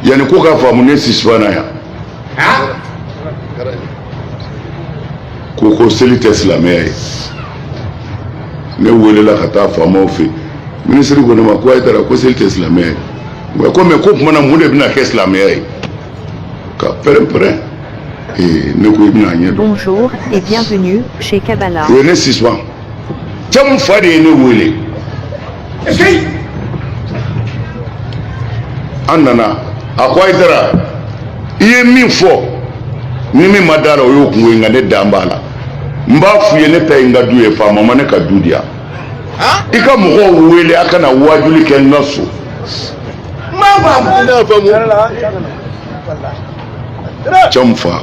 yani ko k'a faamu n'est-ce pas yan ko ko seli tɛ silamɛya ye ne welela ka taa faamaw fɛ minisiri ko ne ma ko ayidara ko seli tɛ silamɛya ye nka ko mɛ k'o tuma na mun de bɛna kɛ silamɛya ye ka pɛrɛn-pɛrɛn ee ne ko i bɛna a ɲɛ dɔn. bonjour et bienvenue chez Kabala. o ye n'est-ce pas camu fa de ye ne wele. an nana a ko ayidara i ye min fɔ ni min ma d'a la o y'o kungo ye nka ne dan b'a la n b'a f'u ye ne ta ye n ka du ye faama ma ne ka du di yan i ka mɔgɔw wele a ka na waajuli kɛ n ka so camu fa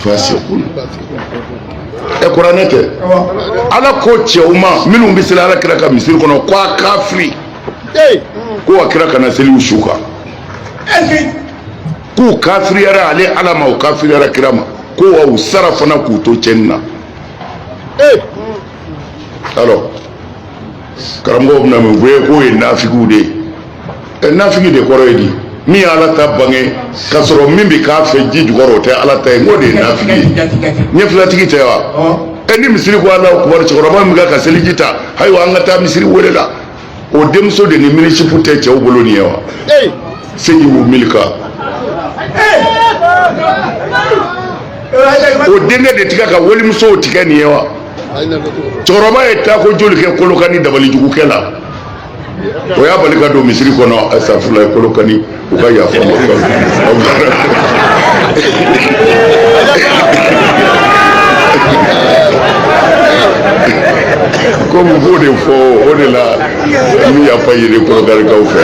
fasikun ɛ kuranɛ tɛ ala ko cɛw ma minnu bɛ seli ala kira ka misiri kɔnɔ ko a kafiri ko a kira kana seli u su kan k'u kafiriyara ale ala ma u kafiriyara kira ma ko wa u sara fana k'u to cɛnni na alors karamɔgɔw bɛna min bɛɛ k'o ye nafigiw de ye ɛ nafigi de kɔrɔ ye di min ye ala ta bange k'a sɔrɔ min bɛ k'a fɛ ji jukɔrɔ o tɛ ala ta ye n k'o de ye nafigi ye ɲɛfilatigi tɛ wa ɛ ni misiri ko alahu akubaru cɛkɔrɔba min ka ka seliji ta ayiwa an ka taa misiri wele la o denmuso de ni mini-jupe tɛ cɛw bolo nin ye wa segi y'u milika o denkɛ de tɛ ka walimusow tigɛ nin ye wa cɛkɔrɔba ye tako joli kɛ kolokani dabalijugukɛ la o y'a bali ka don misiri kɔnɔ asitafurulayi kolokani u ka yafa n ma komi u b'o de fɔ o de la n bɛ yafa ɲini kolokanikaw fɛ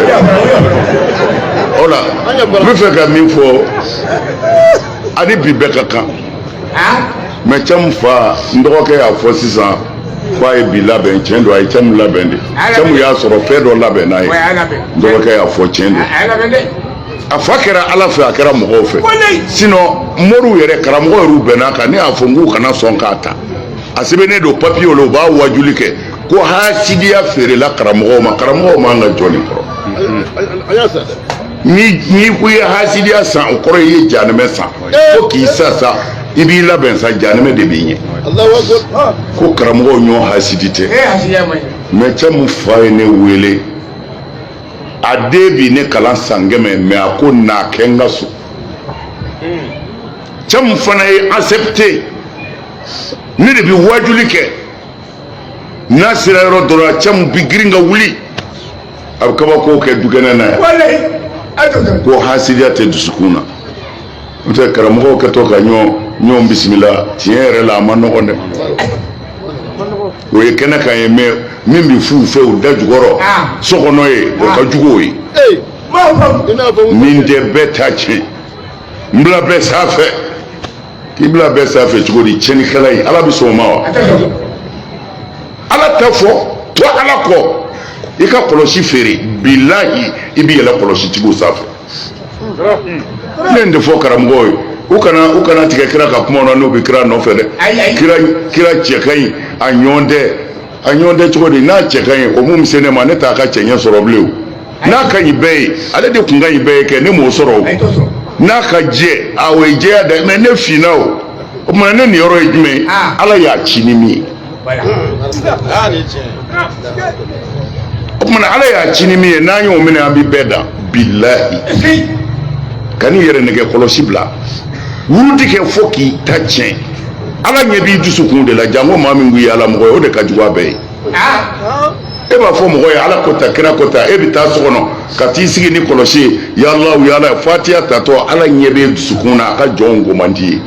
o la n bɛ fɛ ka min fɔ ani bi bɛɛ ka kan mɛ camu fa n dɔgɔkɛ y'a fɔ sisan ko a ye bi labɛn tiɲɛ don a ye camu labɛn de camu y'a sɔrɔ fɛn dɔ labɛn n'a ye n dɔgɔkɛ y'a fɔ tiɲɛ don a fa kɛra ala fɛ a kɛra mɔgɔw fɛ sinɔn moriw yɛrɛ karamɔgɔ yɛrɛ bɛnn'a kan ne y'a fɔ n k'u kana sɔn k'a ta a sɛbɛnnen don papiye la u b'a wajuli kɛ ko hasidiya feerela karamɔgɔw ma karamɔgɔw man ka jɔ nin kɔrɔ ni n'i ko i ye hasidiya san o kɔrɔ i ye janɛmɛ san fo k'i sa sa i b'i labɛn sa janɛmɛ de b'i ɲɛ ko karamɔgɔw ɲɔgɔn hasidi tɛ mɛ camu fa ye ne wele a den bi ne kalan san kɛmɛ mɛ a ko n'a kɛ n ka so camu fana ye accepté ne de bɛ waajuli kɛ n'a sera yɔrɔ dɔ la cɛ min bi girin ka wuli a bɛ kabako kɛ dukɛnɛ na yan ko hasidiya tɛ dusukun na n'o tɛ karamɔgɔw kɛtɔ ka ɲɔgɔn ɲɔgɔn bisimila tiɲɛ yɛrɛ la a ma nɔgɔn dɛ o ye kɛnɛ kan ye mɛ min bɛ f'u fɛ u da jukɔrɔ so kɔnɔ yen o ka jugu o ye nin tɛ bɛɛ ta tiɲɛ n bila bɛɛ sanfɛ k'i bila bɛɛ sanfɛ cogo di tiɲɛnikɛla ye ala bɛ sɔn o ma wa ala ta fɔ to ala kɔ i ka kɔlɔsi feere bilahi i bɛ yɛlɛ kɔlɔsi tigiw sanfɛ ne ye nin de fɔ karamɔgɔw ye u kana tigɛ kira ka kuma na n'u bɛ kira nɔfɛ dɛ kira cɛ ka ɲi a ɲɔgɔn tɛ a ɲɔgɔn tɛ cogo di n'a cɛ ka ɲi o mun bɛ se ne ma ne t'a ka cɛɲɛ sɔrɔ bilen o. n'a ka ɲi bɛɛ ye ale de kun ka ɲi bɛɛ ye kɛ ne m'o sɔrɔ o n'a ka jɛ a o ye jɛya da mɛ ne finna o o tuma ne niyɔrɔ ye jumɛn ye ala y'a ci ni min ye o tuma ala y'a ci ni min ye n'an y'o minɛ an bɛ bɛɛ dan bilahi kan'i yɛrɛ nɛgɛn kɔlɔsi bila wurudi kɛ fo k'i ta tiɲɛ ala ɲɛ b'i dusukun de la janko maa min k'i ye ala mɔgɔ ye o de ka jugu a bɛɛ ye e b'a fɔ mɔgɔ ye ala ko ta kira ko ta e bɛ taa so kɔnɔ ka t'i sigi ni kɔlɔsi ye ya alahu ya ala fatiya tatɔ ala ɲɛ bɛ dusukun na a ka jɔnw ko man d'i ye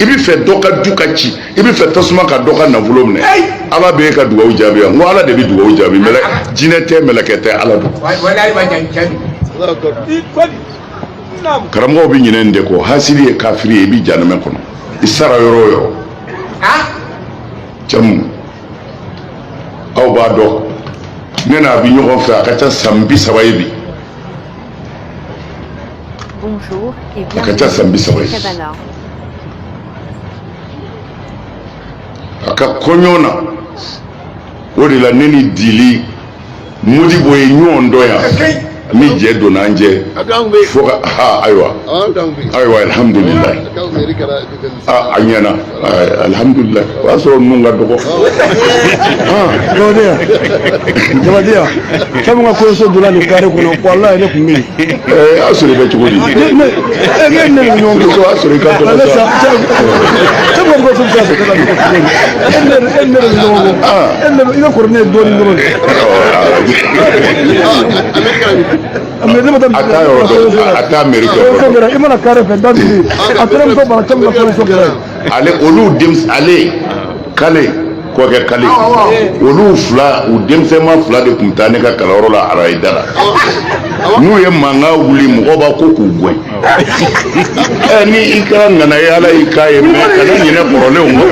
i b'a fɛ dɔ ka du ka ci i b'a fɛ tasuma ka dɔ ka nafolo minɛ ala bɛ e ka dugawu jaabi yan n ko ala de bɛ dugawu jaabi jinɛ tɛ mɛlɛkɛ tɛ ala don karamɔgɔw bɛ ɲinɛ nin de kɔ hasidi ye kafiri ye i bɛ janɛmɛ kɔnɔ i sara yɔrɔ o yɔrɔ jamu aw b'a dɔn ne n'a bi ɲɔgɔn fɛ a ka ca san bi saba ye bi a ka ca san bi saba ye bi a ka kɔɲɔ na o de la ne ni dili modibo ye ɲɔgɔn dɔn yan ni jɛ donna an jɛ fo ka ha ayiwa ayiwa alihamudulilayi a ɲɛna alihamudulilayi o y'a sɔrɔ ninnu ka dɔgɔ jabadenya jabadenya fɛn min ka kɔɲɔso donna nin kare kɔnɔ walayi ne tun bɛ yen y'a sɔrɔ i bɛ cogo di ne ne ne ne ni ɲɔgɔn cɛ y'a sɔrɔ i ka dɔgɔ sa e ma bɔ fɛn fɛn fɛ ka e ne e ne ni ɲɔgɔn cɛ e ne i ka kɔrɔ ne ye dɔɔnin dɔrɔn de mɛ ne ma taa a taa yɔrɔ dɔn a taa mɛri kɛ o kɛra i mana kare fɛ da dugu a taara muso bara caman ka kɔɲɔso kɛra ale olu denmisɛn ale kale kɔkɛ kale olu fila u denmisɛnma fila de tun taa ne ka kalanyɔrɔ la arayida la n'u ye mankan wuli mɔgɔ b'a ko k'u gɛn ɛ ni i kɛra ŋana ye ala y'i k'a ye mais kana ɲinɛ kɔrɔlenw kɔ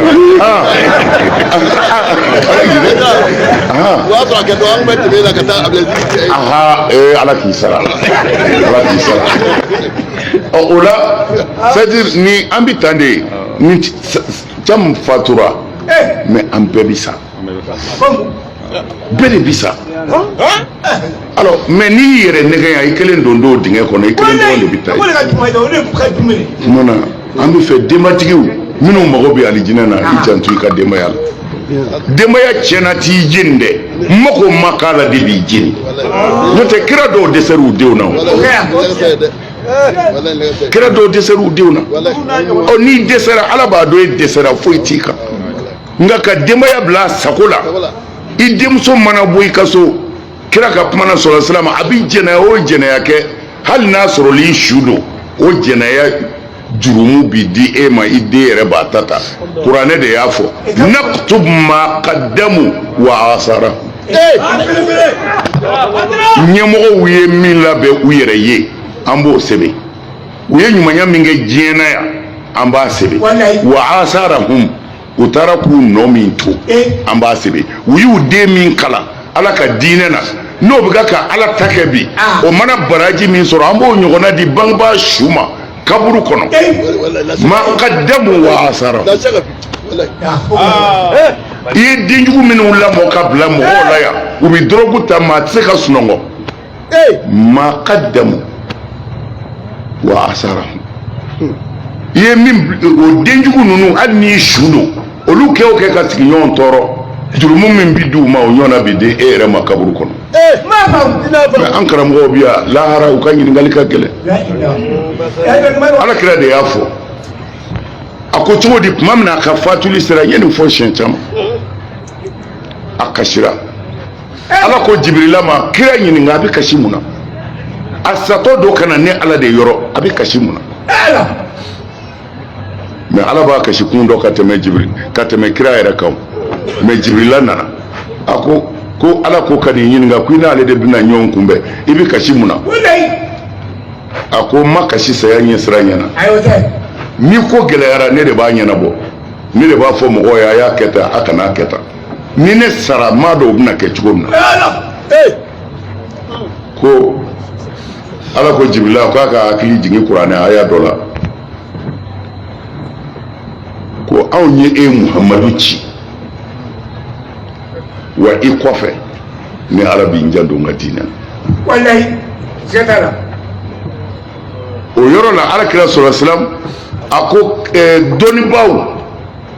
aha ee ala k'i sara ala k'i sara ɔ o la c'est à dire ni an bi tan de ye ni thiam fatura mais an bɛɛ bɛ sa bɛɛ de bɛ sa alors mais n'i y'i yɛrɛ nɛgɛn yan i kelen dontɔ dingɛ kɔnɔ i kelen dɔrɔn de bɛ taa yen tuma na an bɛ fɛ denbatigiw minnu mago bɛ alijinɛ na i janto i ka denbaya la denbaya tiɲɛna t'i jeni dɛ mako ma k'a la de b'i jeni n'o tɛ kira dɔw dɛsɛr'u denw na o kira dɔw dɛsɛra u denw na ɔ n'i dɛsɛra ala b'a dɔn e dɛsɛra foyi t'i kan nka ka denbaya bila a sago la i denmuso mana bɔ i ka so kira ka kuma na sɔla salam a bɛ jɛnɛya o jɛnɛya kɛ hali n'a sɔrɔla i su don o jɛnɛya jurumu bi di e ma i den yɛrɛ b'a ta ta kuranɛ de y'a fɔ naktub ma qaddamu wa asarahum ɲɛmɔgɔw ye min labɛn u yɛrɛ ye an b'o sɛbɛn u ye ɲumanya min kɛ diɲɛ na yan an b'a sɛbɛn wa asarahum u taara k'u nɔ min to an b'a sɛbɛn u y'u den min kalan ala ka diinɛ na n'o bɛ ka ala ta kɛ bi ah. o mana baraji min sɔrɔ an b'o ɲɔgɔnna di bangebaa su ma kaburu kɔnɔ ma qaddamu wa asara ah. eh. i ye denjugu minnu lamɔ ka bila mɔgɔw la yan u bɛ dɔrɔgu ta maa tɛ se ka sunɔgɔ eh ma qaddamu wa asarahu i ye min o denjugu ninnu hali n'i su don olu kɛ o kɛ ka sigiɲɔgɔn tɔɔrɔ jurumu min bi di u ma o ɲɔgɔnna bi di e yɛrɛ ma kaburu kɔnɔ eh ma fa i n'a mɛ fa an karamɔgɔw bi yan lahara u ka ɲininkali ka gɛlɛn ala kira de y'a fɔ a ko cogo di tuma min na a ka fatuli sera n ye nin fɔ siɲɛ caman a kasira ala ko jibirila ma kira ɲininka a bɛ kasi mun na a satɔ don ka na ne ala de yɔrɔ a bɛ kasi mun na mais ala b'a kasi kun dɔn ka tɛmɛ jibiri ka tɛmɛ kira yɛrɛ kan mais jibirila nana a ko ko ala ko ka n'i ɲininka ko i n'ale de bɛna ɲɔgɔn kunbɛn i bɛ kasi mun na a ko n ma kasi saya ɲɛsiranɲɛ na ni ko gɛlɛyara ne de b'a ɲɛnabɔ ne de b'a fɔ mɔgɔw ye a y'a kɛ tan a kana a kɛ tan ni ne sara n m'a dɔn o bɛna kɛ cogo min na ko ala ko jibirila k'a k'a hakili jigin kuranɛ aya dɔ la ko anw ye e muhamadu ci wa i kɔfɛ ne ala bi n janto n ka diinɛ la o yɔrɔ la alakira sɔsalam a ko eh, dɔnnibaaw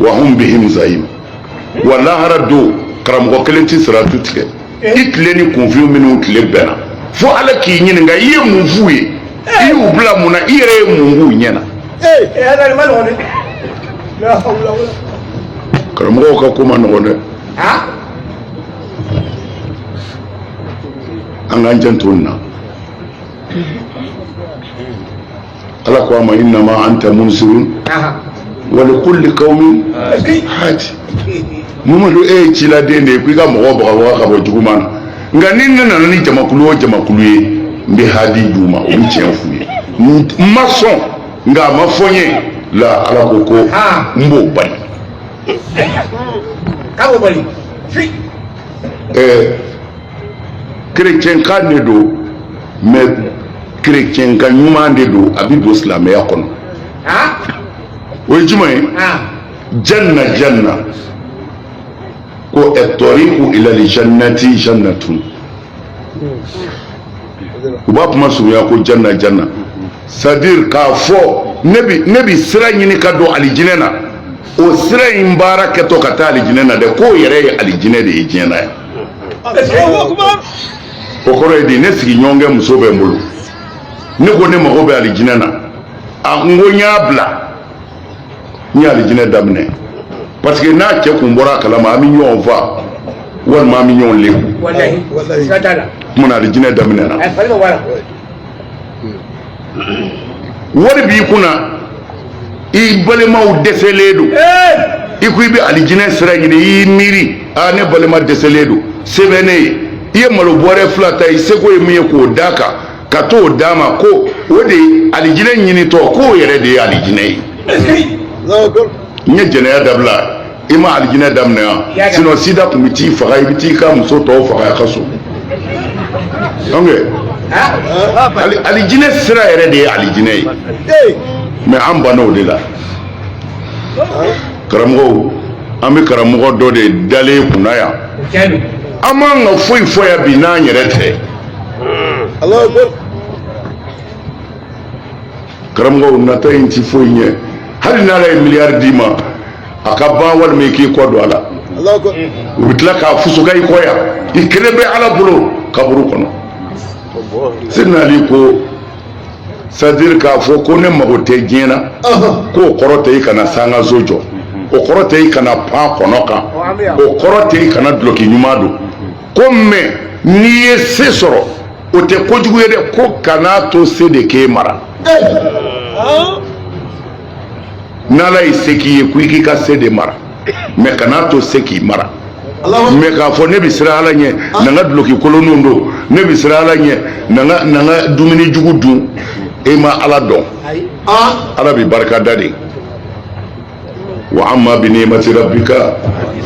wahum bihim zayim wa lahara don karamɔgɔ kelen tɛ siratu tigɛ i tile ni kunfin minnu tile bɛnna fo ala k'i ɲininka i ye mun f'u ye i y'u bila mun na i yɛrɛ ye mun k'u ɲɛ na karamɔgɔw ka ko man nɔgɔn dɛ an k'an janto nin na ala ko a ma innama anta munzirun wa likuli kawmin hadi mamadu e ye ciladen de ye ko i ka mɔgɔ bagabaga ka bɔ juguman na nka ni ne nana ni jamakulu o jamakulu ye n bɛ hadi di u ma o bɛ tiɲɛ f'u ye n ma sɔn nka a ma fɔ n ye la ala ko ko n b'o bali a b'o bali kerecɛnkan de don mais kerecɛnkan ɲuman de don a bɛ don silamɛya kɔnɔ o ye jumɛn ye janna janna ko atɔriku ilal jannati jannatun u b'a kuma surunya ko janna janna c'est à dire k'a fɔ ne bi sira ɲini ka don alijinɛ na o sira in baara kɛtɔ ka taa alijinɛ na dɛ k'o yɛrɛ ye alijinɛ de ye diɲɛ na yan o kɔrɔ ye di ne sigiɲɔgɔnkɛ muso bɛ n bolo ne ko ne mago bɛ alijinɛ na a n ko n y'a bila n ye alijinɛ daminɛ parce que n'a cɛ kun bɔra a kalama an bɛ ɲɔgɔn fa walima an bɛ ɲɔgɔn lebu kumana alijinɛ daminɛna wari b'i kunna i balimaw dɛsɛlen don i ko i bɛ alijinɛ sira ɲini i y'i miiri aa ne balima dɛsɛlen don se bɛ ne ye i ye malo bɔrɛ fila ta i seko ye min ye k'o d'a kan ka t'o d'a ma ko o de ye alijinɛ ɲinitɔ k'o yɛrɛ de ye alijinɛ ye n'i ye jɛnɛya dabila i ma alijinɛ daminɛ yan sinon sida tun bɛ t'i faga i bɛ t'i ka muso tɔw faga a ka so alijinɛ sira yɛrɛ de ye alijinɛ ye mais an banna o de la karamɔgɔw an bɛ karamɔgɔ dɔ de dalen kunna yan an m'an ka foyi fɔ yan bi n'an yɛrɛ tɛ karamɔgɔw nata in ti foyi ɲɛ hali n'ala ye miliyari d'i ma a ka ban walima i k'i kɔ don a la u bɛ tila k'a fusuka i kɔ yan i kelen bɛ ala bolo kaburu kɔnɔ sidina ali ko c'est-à-dire k'a fɔ ko ne mago tɛ diɲɛ na ko o kɔrɔ tɛ i kana sankanso jɔ o kɔrɔ tɛ i kana pan kɔnɔ kan o kɔrɔ tɛ i kana duloki ɲuman don ko mais n'i ye se sɔrɔ o tɛ kojugu ye dɛ ko kana to se de k'e mara n'ala ye se k'i ye ko i k'i ka se de mara mais kana to se k'i mara mais k'a fɔ ne bɛ siran ala ɲɛ ah. na n ka duloki kolonninw don ne bɛ siran ala ɲɛ na n ka na n ka dumuni jugu dun e ma ala dɔn ah. ala bɛ barika da de wa amma bi ni'mati rabbika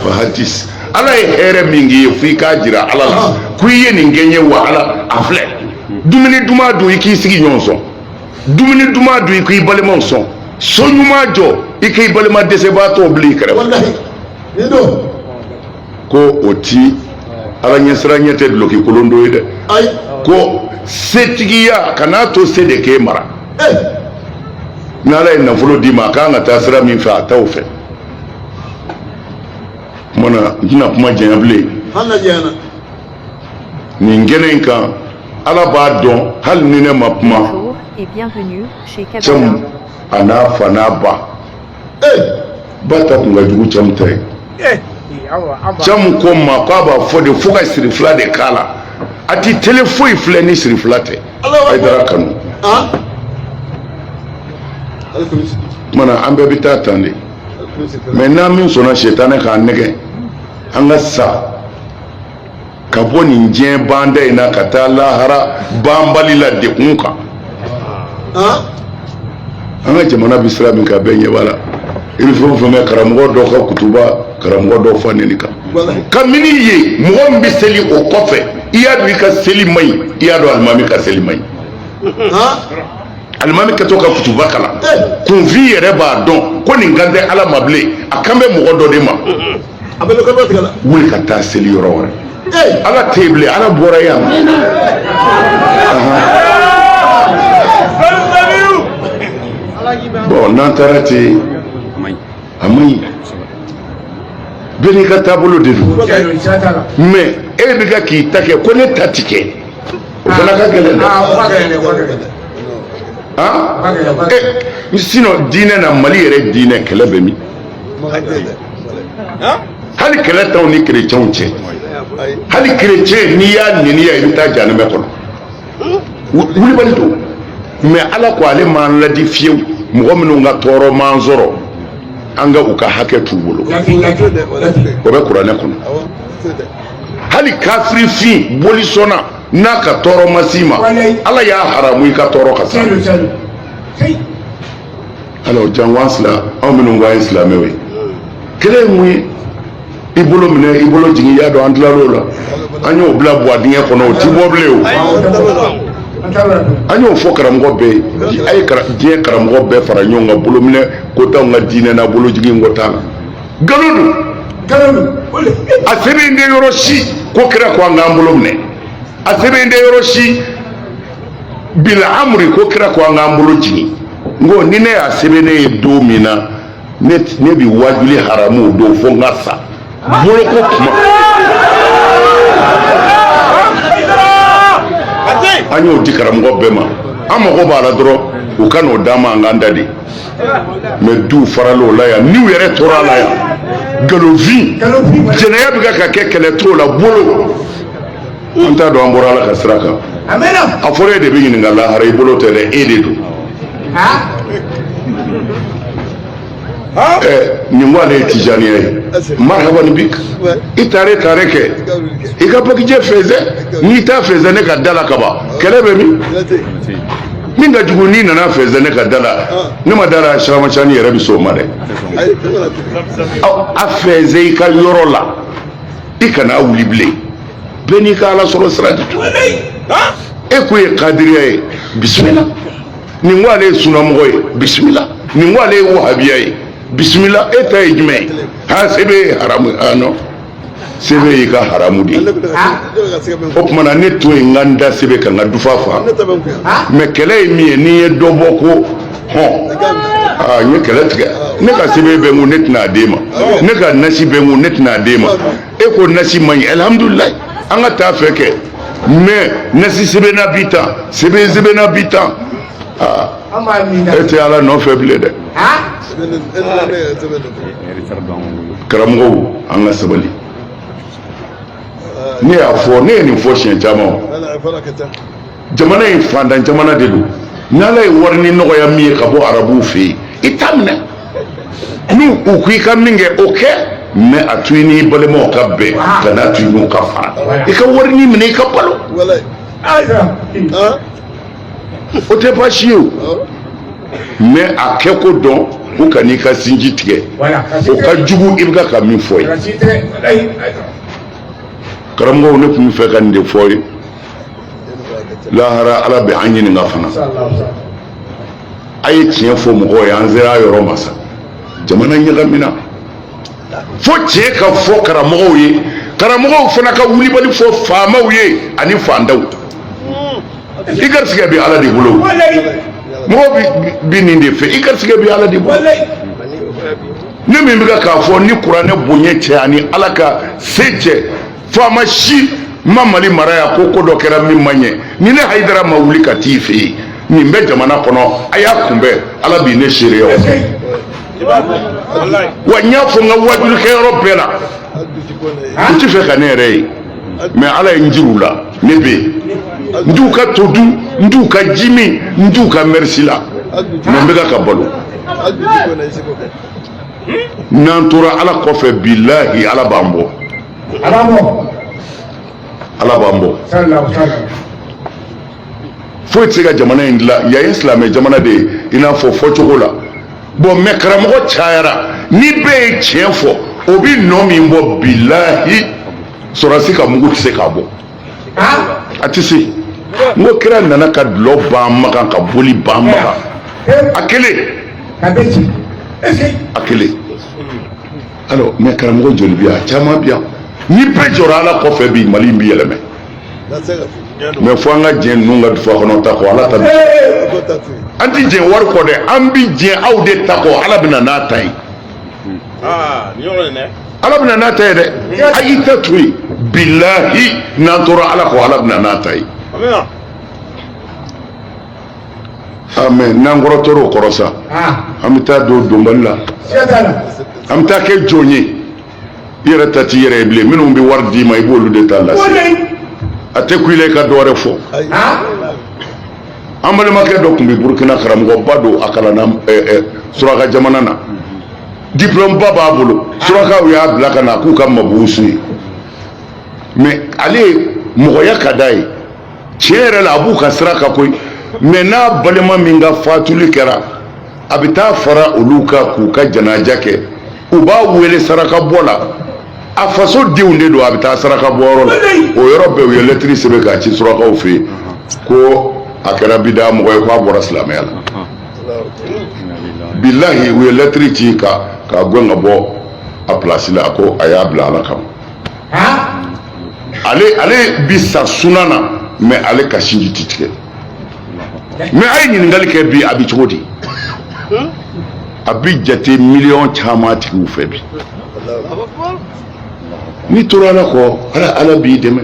fahadis ala ye hɛrɛ min k'i ye fo i k'a jira ala la ah. ko i ye nin kɛ n ye wa ala a filɛ dumuni duman dun i k'i sigiɲɔgɔn sɔn dumuni duman dun i k'i balimaw sɔn so ɲuman jɔ i k'i balima dɛsɛbaatɔw bila i kɛrɛfɛ ko o ti ala ɲɛsiranɲɛ tɛ duloki kolon don ye dɛ ko setigiya kan'a to se de k'e mara n'ala ye nafolo d'i ma a kan ka taa sira min fɛ a t'o fɛ kumana n tɛna kuma janya bilen nin kɛnɛ in kan ala b'a dɔn hali ni ne ma kuma cɛmu a n'a fa n'a ba ee ba ta tun ka jugu cɛmu ta ye eh, cɛmu ko n ma k'a b'a fɔ de fo ka sirifila de k'a la a ti tele foyi filɛ ni sirifila tɛ hayidara kanu ah. kumana an bɛɛ bɛ taa tan de mais n'an min sɔnna sɛtanɛ k'an nɛgɛn an ka sa ka bɔ nin diɲɛ banta in na ka taa lahara banbali la dekun kan an ka jamana bɛ sira min kan bɛɛ ɲɛ b'a la i bɛ fɛn o fɛn mɛn karamɔgɔ dɔ ka kutuba karamɔgɔ dɔ fa neni kan kabini e mɔgɔ min bɛ seli o kɔfɛ i y'a dɔn i ka seli man ɲi i y'a dɔn alimami ka seli man ɲi alimami kɛtɔ ka kutuba kalan kunfin yɛrɛ b'a dɔn ko nin kan tɛ ala ma bilen a kan bɛ mɔgɔ dɔ de ma a bɛ dɔ tigɛ la wuli ka taa seli yɔrɔ wɛrɛ ala tɛ yen bilen ala bɔra yan bon n'an taara ten a man ɲi bɛɛ n'i ka taabolo de don mais e bɛ ka k'i ta kɛ ko ne ta ti kɛ o fana ka gɛlɛn dɛ ah, ah? eh, sinon diinɛ na mali yɛrɛ diinɛ kɛlɛ bɛ min hali kɛlɛ t'anw ni kerecɛnw cɛ hali kerecɛn n'i y'a niniya i bɛ taa janɛmɛ kɔnɔ wulibali don mais ala ko ale m'an ladi fiyewu mɔgɔ minnu ka tɔɔrɔ m'an sɔrɔ an ka u ka hakɛ t'u bolo o bɛ kuranɛ kɔnɔ hali kafirifin bolisɔnna n'a ka tɔɔrɔ ma s'i ma ala y'a haramu i ka tɔɔrɔ ka s'a alors janko sila anw minnu ko an ye silamɛw ye kɛlɛ ye mun ye i bolo minɛ i bolo jigin i y'a dɔn an tilal'o la an y'o bila buwa dingɛ kɔnɔ o ti bɔ bilen o an y'o fɔ karamɔgɔ bɛɛ ye a ye diɲɛ karamɔgɔ bɛɛ fara ɲɔgɔn kan bolo minɛ ko t'anw ka diinɛ na bolo jigin ko t'a la nkalon don nkalon don a sɛbɛn tɛ yɔrɔ si ko kira ko an k'an bolo minɛ a sɛbɛn tɛ yɔrɔ si bila amri ko kira ko an k'an bolo jigin n ko ni ne y'a sɛbɛnnen ye don min na ne bi wajuli haramu o don fo n ka sa boloko kuma an y'o di karamɔgɔ bɛɛ ma an mago b'a la dɔrɔn u ka n'o d'an ma an k'an da dɛ mais duw farala o la yan n'u yɛrɛ tora a la yan galonfin jɛnɛya bɛ ka ka kɛ kɛlɛ t'o la bolo an t'a dɔn an bɔra ala ka sira kan a fɔra e de bɛ ɲininka lahara i bolo tɛ dɛ e de don nin ko ale ye tijaniya ye marhaban bik i taare taare kɛ i ka bagijɛ fɛnsɛ n'i t'a fɛnsɛ ne ka da la kaban kɛlɛ bɛ min min ka jugu n'i nana fɛnsɛ ne ka da la ne ma da la siramacani yɛrɛ bɛ s'o ma dɛ a fɛnsɛ i ka yɔrɔ la i kana wuli bilen bɛɛ n'i ka ala sɔrɔ sira de don e ko ye kadiriya ye bisimila nin ko ale ye sunamɔgɔ ye bisimila nin ko ale ye wahabiya ye bisimila e ta ye jumɛn ye ha sɛbɛn ye haramu ye ah non sɛbɛn y'i ka haramu de ye o tuma na ne to yen n ka n da sɛbɛn kan ka dufa fa mais kɛlɛ ye min ye n'i ye dɔ bɔ ko hɔn aa n ye kɛlɛ tigɛ ne ka sɛbɛn bɛ n kun ne tɛna a d'e ma ne ka nasi bɛ n kun ne tɛna a d'e ma e ko nasi man ɲi alihamudulilayi an ka taa fɛ kɛ mais nasi sɛbɛnna bi tan sɛbɛn sɛbɛnna bi tan e tɛ ala nɔfɛ bilen dɛ karamɔgɔw an ka sabali ne y'a fɔ ne ye nin fɔ siɲɛ caman jamana in fantan jamana de don n'ala ye warinin nɔgɔya min ye ka bɔ arabuw fɛ yen i t'a minɛ n'u ko i ka min kɛ o kɛ mɛ a to i n'i balimaw ka bɛn kan'a to i n'u ka fara i ka warinin minɛ i ka balo o tɛ baasi ye o mɛ a kɛko dɔn k'u kan'i ka sinji tigɛ o ka jugu i bɛ ka min fɔ ye karamɔgɔw ne tun bɛ fɛ ka nin de fɔ ye lahara ala bɛ an ɲininka fana a ye tiɲɛ fɔ mɔgɔw ye an sera yɔrɔ ma sa jamana ɲagamina fo tiɲɛ ka fɔ karamɔgɔw ye karamɔgɔw fana ka wulibali fɔ faamaw ye ani fantanw i garisigɛ bɛ ala de bolo mɔgɔ bi nin de fɛ i garisigɛ bɛ ala de bolo ne min bɛ ka k'a fɔ ni kuranɛ bonya cɛ ani ala ka se cɛ faama si ma mali mara yan ko ko dɔ kɛra min man ɲɛ ni ne hayidara ma wuli ka t'i fɛ yen nin bɛ jamana kɔnɔ a y'a kunbɛn ala bi ne seereya wa n y'a fɔ n ka wajulikɛyɔrɔ bɛɛ la n ti fɛ ka ne yɛrɛ ye mɛ ala ye n jir'u la ne bɛ yen n t'u ka to dun n t'u ka ji min n t'u ka mɛrisi la mɛ n bɛ ka ka balo n'an tora ala kɔfɛ bilahi ala b'an bɔ ala b'an bɔ foyi tɛ se ka jamana in dilan yan ye silamɛ jamana de ye i n'a fɔ fɔcogo la bɔn mɛ karamɔgɔ cayara ni bɛɛ ye tiɲɛ fɔ o bɛ nɔ min bɔ bilahi sɔrɔdasi ka mugu tɛ se k'a bɔ a tɛ se n ko kira nana ka dulɔ ban makan ka boli ban makan a kelen a kelen alors mɛ karamɔgɔ joli bi yan caman bi yan ni bɛɛ jɔra ala kɔfɛ bi mali in bi yɛlɛmɛ mɛ fo an ka diɲɛ ninnu ka dufa kɔnɔ ta kɔ ala ta bi an ti diɲɛ wari kɔ dɛ an bi diɲɛ aw de ta kɔ ala bɛna n'a ta ye ala bɛna n'a ta ye dɛ a y'i ta to yen bilahi n'an tora ala kɔ ala bɛna n'a ta ye mɛ n'an kɔrɔtɔra o kɔrɔ sa an bɛ taa don donbali la an bɛ taa kɛ jɔn ye i yɛrɛ ta t'i yɛrɛ ye bilen minnu bɛ wari d'i ma i b'olu de ta lase a tɛ kun i la i ka dɔ wɛrɛ fɔ an balimakɛ dɔ tun bɛ burukina karamɔgɔba don a kalanna suraka jamana na diplɔmeba b'a bolo surakaw y'a bila ka na k'u ka mabusu ye mɛ ale mɔgɔya ka d'a ye tiɲɛ yɛrɛ la a b'u ka sira kan koyi mɛ n'a balima min ka fatuli kɛra a bɛ taa fara olu kan k'u ka janaja kɛ u b'a wele saraka bɔ la a faso denw de don a bɛ taa saraka bɔ yɔrɔ la o yɔrɔ bɛɛ u ye lɛtiri sɛbɛn k'a ci surakaw fɛ yen ko a kɛra bida mɔgɔ ye k'a bɔra silamɛya la bilahi u ye lɛtiri ci k'a gɛn ka bɔ a pilasi la ko a y'a bila ala kama ale bi sa suna na mais ale ka sinji ti tigɛ mais a ye ɲininkali kɛ bi a bɛ cogo di a bɛ jate miliyɔn caman tigiw fɛ bi n'i tora ala kɔ ala ala b'i dɛmɛ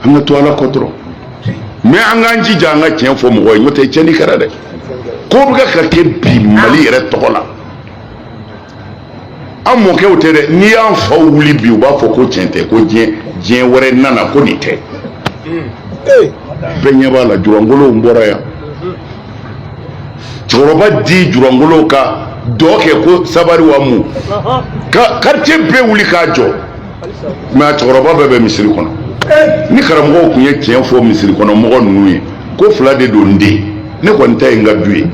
an ka to ala kɔ dɔrɔn mais an k'an jija an ka tiɲɛ fɔ mɔgɔ ye n'o tɛ tiɲɛni kɛra dɛ ko bɛ ka kɛ bi mali yɛrɛ tɔgɔ la an mɔkɛw tɛ dɛ n'i y'an faw wuli bi u b'a fɔ ko tiɲɛ tɛ ko diɲɛ wɛrɛ nana ko nin tɛ bɛɛ ɲɛ b'a la julankolonw bɔra yan cɛkɔrɔba di julankolonw ka dɔn kɛ ko sabari wa mun ka karitiye bɛɛ wuli k'a jɔ mais a cɛkɔrɔba bɛɛ bɛ misiri kɔnɔ ni karamɔgɔw tun ye tiɲɛ fɔ misiri kɔnɔ mɔgɔ ninnu ye ko fila de don n den ne kɔni ta ye n ka du ye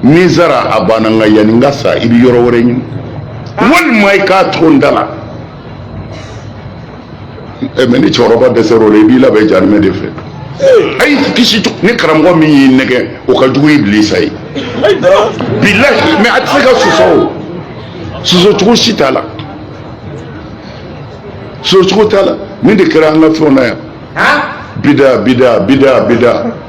ni n sara a banna nka yanni n ka sa i bɛ yɔrɔ wɛrɛ ɲini walima i k'a to n da la eh, mais ni cɛkɔrɔba dɛsɛra o la i b'i labɛn jahanamɛ de fɛ eh. a y'i kisi ni karamɔgɔ min y'i nɛgɛn o ka jugu ibilisa ye bilahi mais a tɛ se ka sɔsɔ o sɔsɔcogo si t'a la sɔsɔcogo t'a la nin de kɛra an ka fɛnw na yan bida bida bida bida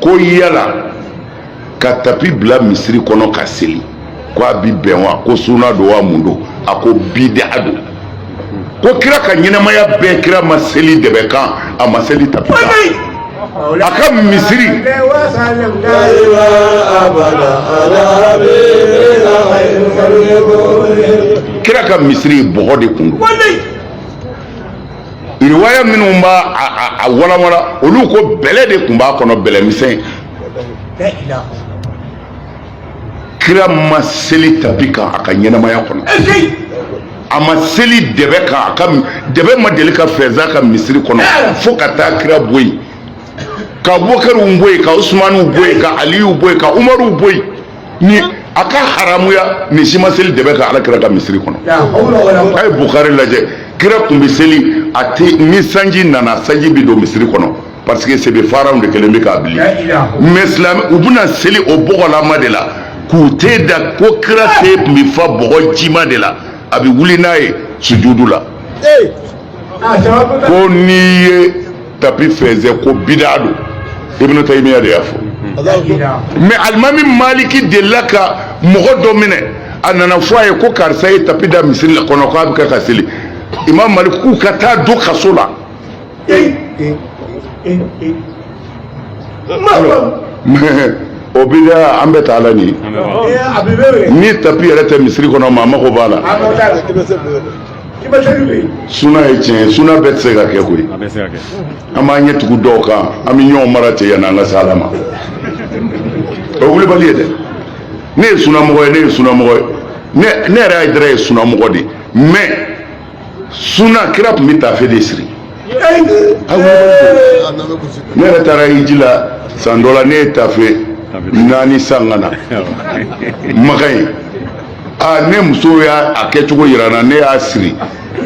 ko yala ka tapi bila misiri kɔnɔ ka seli ko a bi bɛn wa ko suna don wa mun don a ko bida don ko kira ka ɲɛnamaya bɛɛ kira ma seli dɛbɛ kan a ma seli tapi kan a ka misiri kira ka misiri bɔgɔ de kun don riwaya minnu b'a a walawala olu ko bɛlɛ de kun b'a kɔnɔ bɛlɛ misɛn kira ma seli tapi kan a ka ɲɛnamaya kɔnɔ a ma seli dɛbɛ kan a ka dɛbɛ ma deli ka fɛnsɛn a ka misiri kɔnɔ fo ka taa kira bɔ yen ka bokariw bɔ yen ka usumaniw bɔ yen ka aliyu bɔ yen ka umaruw bɔ yen ni a ka haramuya nin si ma seli dɛbɛ kan ala kira ka misiri kɔnɔ a ye bukari lajɛ kira tun bɛ seli a tɛ ni sanji nana sanji bɛ don misiri kɔnɔ parce que sebe faraw de kelen bɛ k'a bili mais silamɛw bɛna seli o bɔgɔlama de la k'u ten da ko kira ten tun bɛ fa bɔgɔ jima de la a bɛ wuli n'a ye sujudu la ko n'i ye tapi fɛnsɛ ko bida don ibn taymiya de y'a fɔ mais alimami maliki delila ka mɔgɔ dɔ minɛ a nana fɔ a ye ko karisa ye tapi da misiri la kɔnɔ k'a bɛ kɛ ka seli imam malik k'u ka taa don kaso la o bida an bɛ taa la nin ni tapi yɛrɛ tɛ misiri kɔnɔ maa mago b'a la suna ye tiɲɛ ye suna bɛɛ tɛ se ka kɛ koyi an b'an ɲɛ tugu dɔw kan an bɛ ɲɔgɔn mara ten yanni an ka se ala ma o ye wulibali ye dɛ ne ye sunamɔgɔ ye ne ye sunamɔgɔ ye ne ne yɛrɛ hayidara ye sunamɔgɔ de ye mais suna kira tun bɛ tafe de siri ne yɛrɛ taara hiji la san dɔ la ne ye tafe naani san ka na makan ye aa ne muso y'a a kɛcogo yira n na ne y'a siri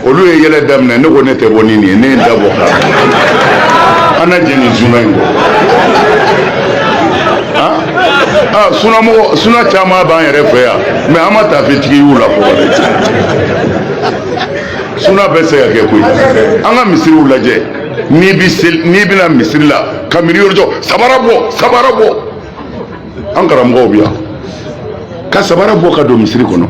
olu ye yɛlɛ daminɛ ne ko ne tɛ bɔ ni nin ye ne ye n da bɔ ka an na jɛn nin suna in kɔ aa sunamɔgɔ suna caman b'an yɛrɛ fɛ yan mais an ma tafetigi y'u la fɔlɔ dɛ suna bɛɛ tɛ se ka kɛ koyi an ka misiriw lajɛ n'i bi seli n'i bɛ na misiri la ka miiri yɔrɔ jɔ sabara bɔ sabara bɔ an karamɔgɔw bɛ yan ka sabara bɔ ka don misiri kɔnɔ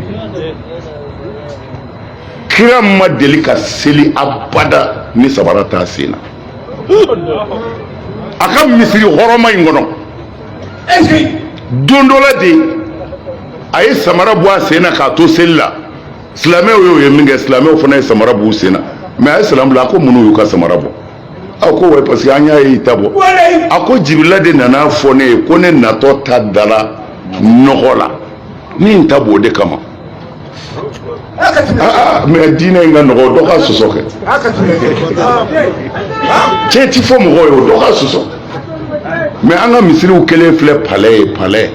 kira ma deli ka seli abada ni sabara t'a sen na a ka misiri hɔrɔma in kɔnɔ don dɔ la de a ye samara bɔ a sen na k'a to seli la silamɛw y'o ye min kɛ silamɛw fana ye samara b'u sen na mais a ye salamu bila a ko munn'u y'u ka samara bɔ a ko wa parce que an y'a ye i ta bɔ a ko jibirila de nana fɔ ne ye ko ne natɔ ta dala nɔgɔ la n ye n ta b'o de kama ah, ah, mais diinɛ in ka nɔgɔn dɔ ka sɔsɔ kɛ cɛ ti fɔ mɔgɔ ye o dɔ ka sɔsɔ mais an ka misiriw kelen filɛ palais ye palais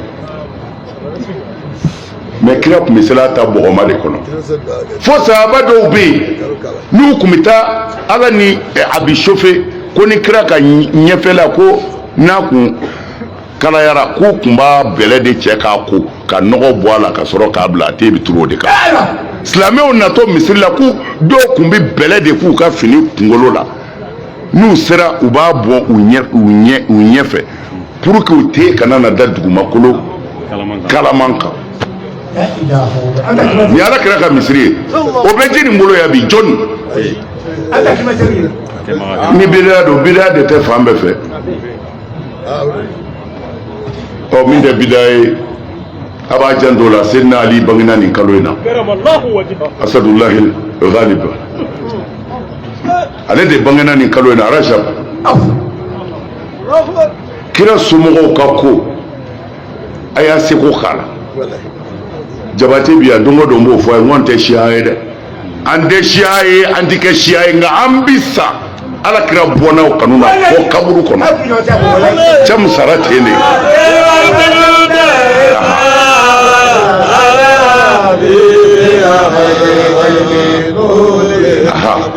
mais kira tun bɛ seli a ta bɔgɔma de kɔnɔ fo sahaba dɔw bɛ yen n'u tun bɛ taa ala ni eh, a bɛ sofe ko ni kira ka ɲɛfɛla ko n'a kun kalayara k'u tun b'a bɛlɛ de cɛ k'a ko ka nɔgɔ bɔ a la ka sɔrɔ k'a bila a ten bɛ turu o de kan silamɛw natɔ misiri la k'u dɔw tun bɛ bɛlɛ de k'u ka fini kunkolo la n'u sera u b'a bɔn u ɲɛ u ɲɛ u ɲɛfɛ pour que u ten kana na da dugumakolo kalaman kan ni ala kira ka misiri ye o bɛ ji nin bolo ya bi jɔni ni bidaya don bidaya de tɛ fan bɛɛ fɛ ɔ min tɛ bidaya ye a b'a janto la seydina ali bangena nin kalo in na asadulahi ghalib ale de bangena nin kalo in na arajab kira somɔgɔw ka ko a y'a seko k'a la jabate bi yan don o don b'o fɔ a ye n ko n tɛ siya ye dɛ an tɛ siya ye an tɛ kɛ siya ye nka an bi sa ala kira bɔnnaw kanu na fo kaburu kɔnɔ cɛ min sara ten de Aha.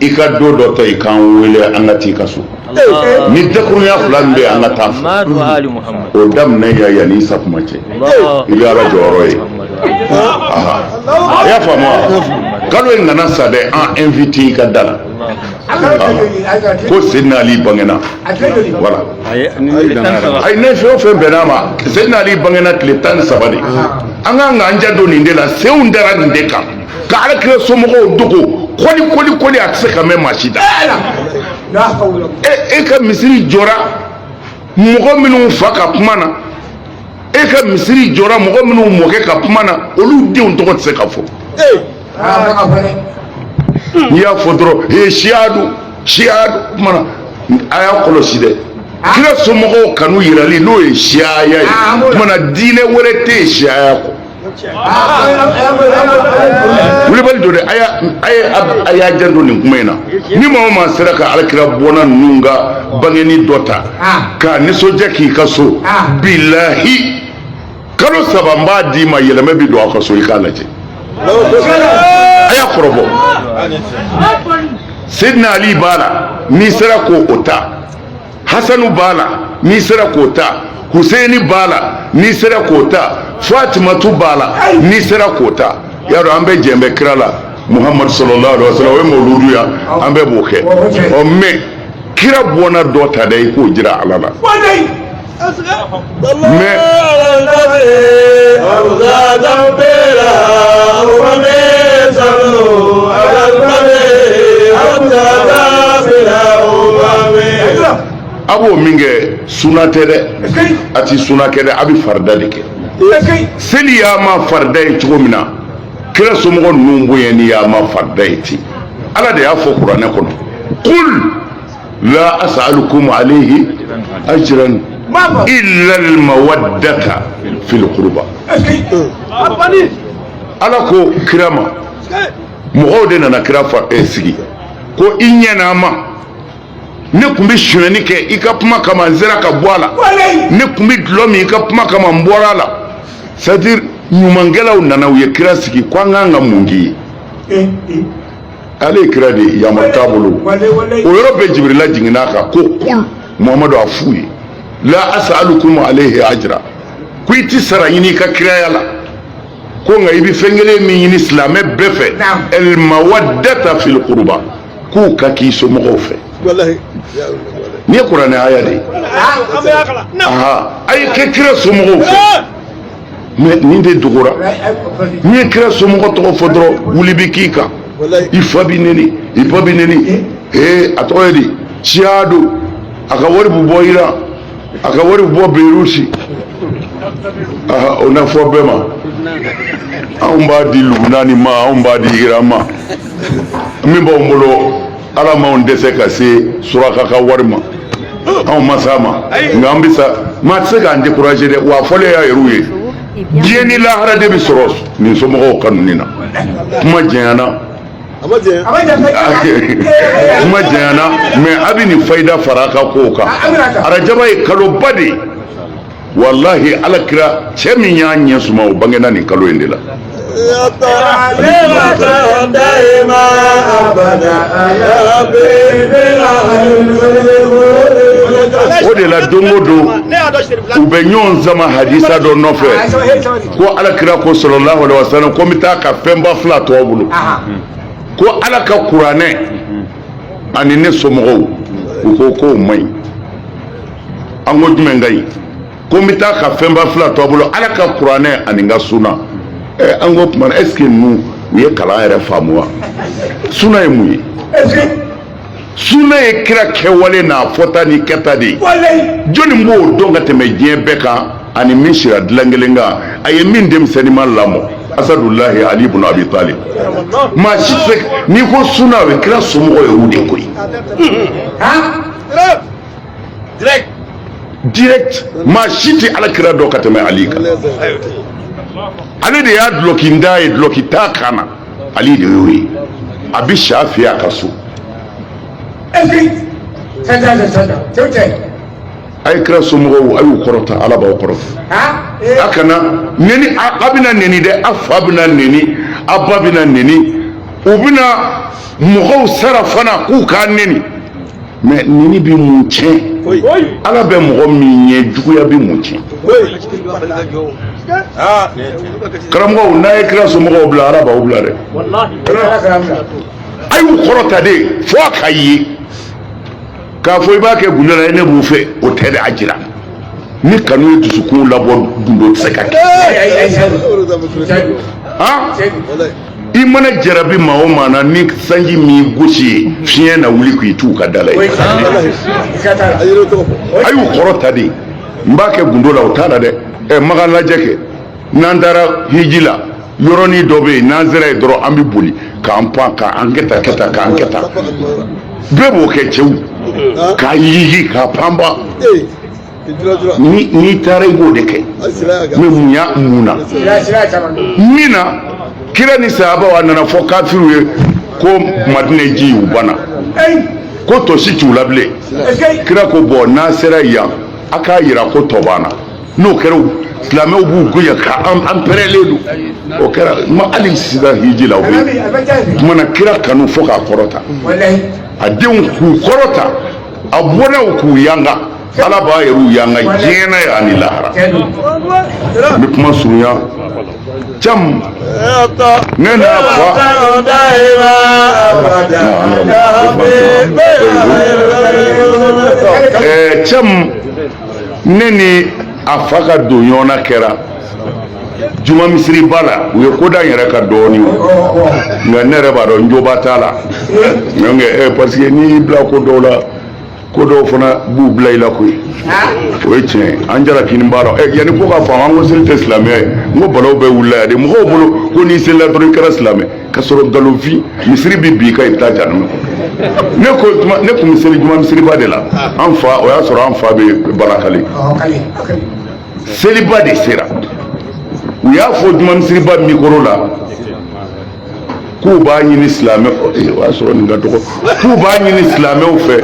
i ka don dɔ ta i k'an wele an ka t'i ka so ni dakurunya fila min bɛ an ka taa fɔ o daminɛ ya yanni san kuma cɛ i bɛ ala jɔyɔrɔ ye a y'a faamu wa kalo in kana sa dɛ an invite i ka da la ko Seydina Ali bangena voilà ayi ne fɛn o fɛn bɛnna ma Seydina Ali bangena tile tan ni saba de an kan k'an janto nin de la senw dara nin de kan ka ala kira somɔgɔw dogo kɔli kɔli kɔli a tɛ se ka mɛn maa si da e ka misiri jɔra mɔgɔ minnu fa ka kuma na e ka misiri jɔra mɔgɔ minnu mɔkɛ ka kuma na olu denw tɔgɔ tɛ se ka fɔ n'i y'a fɔ dɔrɔn ee siya don siya don o kuma na a y'a kɔlɔsi dɛ kira somɔgɔw kanu yirali n'o ye siyaya ye o kuma na diinɛ wɛrɛ tɛ yen siyaya kɔ wulibali don dɛ a y'a a ye a y'a janto nin kuma in na ni maa o maa sera ka alakira bɔnna ninnu ka bangeni dɔ ta k'a nisɔndiya k'i ka so bilahi kalo saba n b'a d'i ma yɛlɛma bi don aw ka so i k'a lajɛ a y'a kɔrɔbɔ seydina ali b'a la n'i sera k'o ta hasanu b'a la n'i sera k'o ta huseini b'a la n'i sera k'o ta fatimatu b'a la n'i sera k'o ta y'a dɔn an bɛɛ jɛn bɛ kira la muhamadu sallallahu alaihi wa sallam o ye mawuludu ye an bɛɛ b'o kɛ ɔ mais kira bɔnna dɔ ta dɛ i k'o jira ala la a b'o min kɛ suna tɛ dɛ a ti suna kɛ dɛ a bɛ farida de kɛ seli y'a ma farida ye cogo min na kira somɔgɔ ninnu bonyani y'a ma farida ye ten ala de y'a fɔ kuranɛ kɔnɔ kul la as'alukum alayhi ajran illa al mawaddata fil qurba ala ko kira ma mɔgɔw de nana kira fa eh, sigi ko i ɲɛna ma ne tun bɛ sonyɛni kɛ i ka kuma kama n sera ka bɔ a la ne tun bɛ dulɔ min i ka kuma kama n bɔra a la c'est à dire ɲumankɛlaw nana u ye kira sigi ko an k'an ka mun k'i ye eh, eh. ale ye kira de ye yamari t'a bolo o yɔrɔ bɛɛ jibirila jiginna a kan ko qul muhamadu a f'u ye la as'alukum alayhi ajra ko i ti sara ɲini i ka kiraya la ko nka i bɛ fɛn kelen min ɲini silamɛ bɛɛ fɛ el mawaddata fil qurba k'u ka k'i somɔgɔw fɛ nin ye kuranɛ aya de ye a ye kɛ kira somɔgɔw fɛ mais nin de dogora n'i ye kira somɔgɔ tɔgɔ fɔ dɔrɔn wuli bi k'i kan i fa bi neni i ba bi neni ee a tɔgɔ ye di siya don a ka wari bɛ bɔ iran a ka wari bɛ bɔ berusi o na fɔ bɛɛ ma anw b'a di lubunani ma anw b'a di iran ma min b'anw bolo ala m'anw dɛsɛ ka se suraka ka wari ma anw ma s'a ma nka an bɛ sa maa tɛ se k'an décourager dɛ wa fɔlen y'a yɛrɛw ye diɲɛ ni lahara de bɛ sɔrɔ nin somɔgɔw kanuni na kuma jɛnyana kuma jɛnyana mais a bɛ nin fayida fara a ka kow kan arajaba ye kaloba de ye wallahi alakira cɛ min y'a ɲɛ suma o bangena nin kalo in de la o de la don o don u bɛ ɲɔgɔn sama hadisa dɔ nɔfɛ ko alakira ko sallallahu alaihi wasallam ko n bɛ taa ka fɛnba fila to a bolo ko ala ka kuranɛ ani ne somɔgɔw u ko k'o man ɲi an ko jumɛn ka ɲi ko n bɛ taa ka fɛnba fila to a bolo ala ka kuranɛ ani n ka suna ɛ an ko tuma est ce que ninnu u ye kalan yɛrɛ faamu wa suna ye mun ye suna ye kira kɛwale n'a fɔta ni kɛta de ye jɔni b'o dɔn ka tɛmɛ diɲɛ bɛɛ kan a ni min sira dilan kelen kan a ye min denmisɛnninma lamɔ asadullahi ali ibn abi talib maa si tɛ n'i ko suna o ye kira somɔgɔ ye o de koyi direct direct maa si tɛ alakira dɔn ka tɛmɛ ali kan ale de y'a dulɔkintan ye dulɔki t'a kan na ali de y'o ye a bɛ sa fɛ a ka so a ye kira somɔgɔw a y'u kɔrɔta ala b'aw kɔrɔta a kana neni a bɛna neni dɛ a fa bɛna neni a ba bɛna neni u bɛna mɔgɔw sara fana k'u k'a neni mais neni bɛ mun tiɲɛ ala bɛ mɔgɔ min ɲɛ juguya bɛ mun tiɲɛ karamɔgɔw n'a ye kira somɔgɔw bila ala b'aw bila dɛ a y'u kɔrɔta de fo a ka ye k'a fɔ i b'a kɛ gundo la ne b'u fɛ o tɛ de a jira ni kanu ye dusukun labɔ gundo tɛ se ka kɛ i mana jarabi maa o maa na ni sanji m'i gosi ye fiɲɛ na wuli k'i t'u ka da la ye a y'u kɔrɔta de n b'a kɛ gundo la o t'a la dɛ ɛ makan lajɛ kɛ n'an taara hiji la yɔrɔnin dɔ bɛ yen n'an sera yen dɔrɔn an bɛ boli k'an pan k'an kɛ tan kɛ tan k'an kɛ tan bɛɛ b'o kɛ cɛw k'a yigi k'a panpan n'i taara i b'o de kɛ mais mun y'a mun na min na kira ni sahabaw a nana fɔ kafiriw ye ko madina ji y'u bana ko tɔ si t'u la bilen kira ko bon n'a sera yan a k'a yira ko tɔ b'an na n'o kɛra silamɛw b'u goya ka an pɛrɛlen don o kɛra ma hali sisan hiji la o bɛ yen kumana kira kanu fo k'a kɔrɔta a denw k'u kɔrɔta a bɔnnaw k'u yanga ala b'a yɛrɛw yanga diɲɛ na yan ni lahara n bɛ kuma surunya cam ne n'a fa ɛɛ cam ne ni a fa ka don ɲɔgɔnna kɛra juma misiriba la u ye ko da n yɛrɛ kan dɔɔni nka ne yɛrɛ b'a dɔn n joba t'a la donc eh, parce que n'i y'i bila ko dɔw la ko dɔw fana b'u bila i la koyi o ye tiɲɛ ye an jara kini b'a dɔn eh, yanni ko ka faamu an ko seli tɛ silamɛya ye n ko balaw bɛɛ wulila yan de mɔgɔw bolo ko n'i selila dɔrɔn i kɛra silamɛ ka sɔrɔ nkalonfin misiri bɛ bin i kan i bɛ taa janama ne ko juma ne tun bɛ seli juma misiriba de la an fa o y'a sɔrɔ an fa bɛ balakale seliba de sera u y'a fɔ juma misiriba mikoro la k'u b'a ɲini silamɛ o y'a sɔrɔ nin ka dɔgɔ k'u b'a ɲini silamɛw fɛ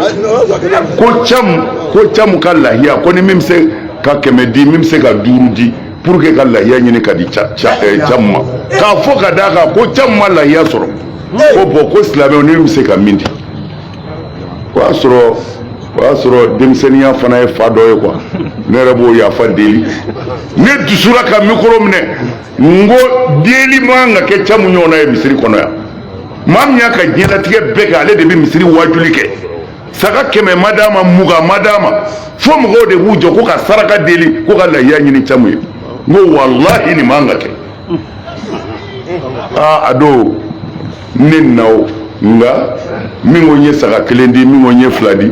ko camu ko camu ka lahiya ko ni min bɛ se ka kɛmɛ di min bɛ se ka duuru di pour que ka lahiya ɲini ka di camu ma k'a fɔ ka d'a kan ko camu ma lahiya sɔrɔ ko bon ko silamɛw ni min bɛ se ka min di o y'a sɔrɔ o y'a sɔrɔ denmisɛnninya fana ye fa dɔ ye quoi ne yɛrɛ b'o yafa deli ne dusura ka mikoro minɛ n ko deli man ka kɛ camu ɲɔgɔnna ye misiri kɔnɔ yan maa min y'a ka diɲɛlatigɛ bɛɛ kɛ ale de bɛ misiri waajuli kɛ saga kɛmɛ ma d'a ma mugan ma d'a ma fo mɔgɔw de b'u jɔ ko ka saraka deli ko ka lahiya ɲini camu ye n ko walahi nin man ka kɛ aa a don ne na o nka min ko n ye saga kelen di min ko n ye fila di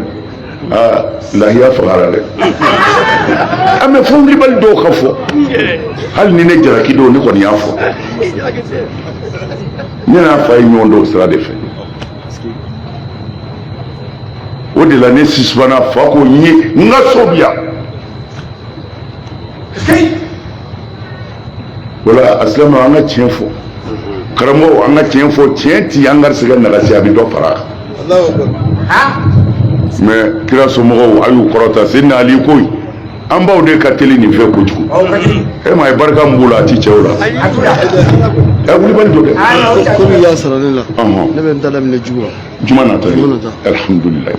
aa lahiya fagara dɛ an bɛ fɔ wulibali dɔw ka fɔ hali ni ne jalaki don ne kɔni y'a fɔ ne n'a fa ye ɲɔgɔn dɔn sira de fɛ o de la ne sisumana fa ko n ye n ka so bi yan wala asilamu an ka tiɲɛ fɔ karamɔgɔ an ka tiɲɛ fɔ tiɲɛ ti an garisigɛ nagasi a bɛ dɔ fara a kan mɛ kira somɔgɔw a y'u kɔrɔta sidina ali ko an baw de ka teli nin fɛ kojugu e ma ye barika min b'u la a ti cɛw la ɛ wulibali don dɛ komi i y'a sara ne la ne bɛ n ta daminɛ juma la juma nata ye alihamudulilayi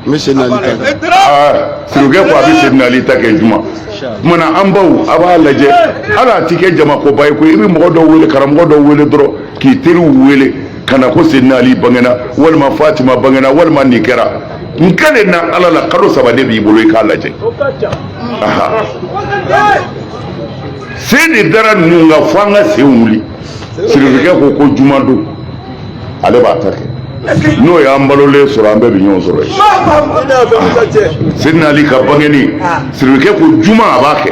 n bɛ sidina ali ta kɛ aa sirikɛ ko a bɛ sidina ali ta kɛ juma kumana an baw a b'a lajɛ hali a ti kɛ jamakoba ye koyi i bɛ mɔgɔ dɔw wele karamɔgɔ dɔw wele dɔrɔn k'i teriw wele ka na ko sidina ali bangena walima fatima bangena walima nin kɛra n kɛlen na ala la kalo saba de b'i bolo i k'a lajɛ aha sen de dara ninnu kan fo an ka sen wuli sirikɛ ko ko juma don ale b'a ta kɛ n'o y'an balolen sɔrɔ an bɛɛ bɛ ɲɔgɔn sɔrɔ yen sidina ali ka bangeni siribikɛ ko juma a b'a kɛ